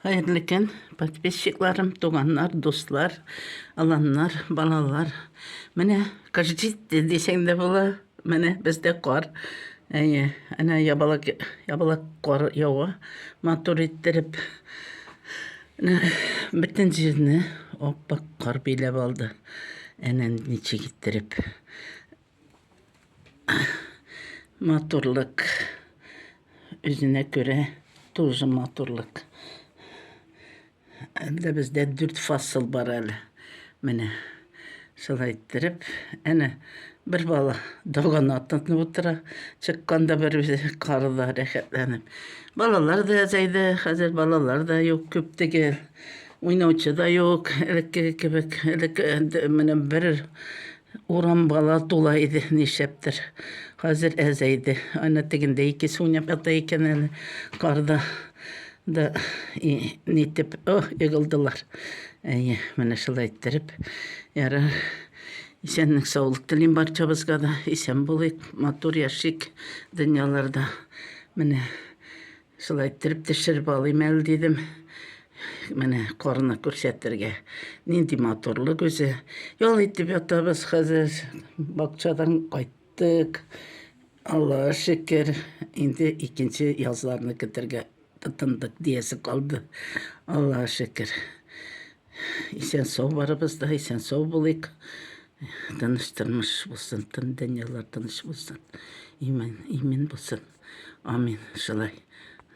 Хәерле көн, подписчикларым, туганнар, дуслар, аланнар, балалар. Менә кыш җитте дисәң дә була. Менә бездә кар. Әйе, әнә ябалак, ябалак кар ява. Матур иттереп бөтен җирне аппак кар биләп алды. Әнә ничек иттереп. Матурлык. Үзенә күрә тоже матурлык. Әлдә бездә дүрт фасыл бар әле. Менә шулай иттереп, әнә бер бала догана тынып утыра, чыкканда бер үзе карыда рәхәтләнеп. Балалар да әзәйде, хәзер балалар да юк, күп түгел. Уйнаучы да юк, элеккеге кебек. Элек менә бер Урам бала тула иде, нишләптер. Хәзер әзәйде. Ана тегендә икесе уйнап ята икән әле. Карда да и, нитеп, о, егылдылар. Әйе, менә шулай иттереп. Ярар. Исәнлек, саулык телим барчабызга да. Исән булыйк, матур яшик дөньяларда. Менә Шулай иттереп төшереп алыйм әле дидем. Менә корны күрсәтергә. Нинди матурлык үзе. Ял итеп ятабыз хәзер. Бакчадан кайттык. Аллага шөкер. Инде икенче язларны көтәргә тотындык диясе калды. Аллага шөкер. Исән сау барыбыз да, исән сау булыйк. Тыныч тормыш булсын, тын дөньялар тыныч булсын. Имин, имин булсын. Амин. Шулай.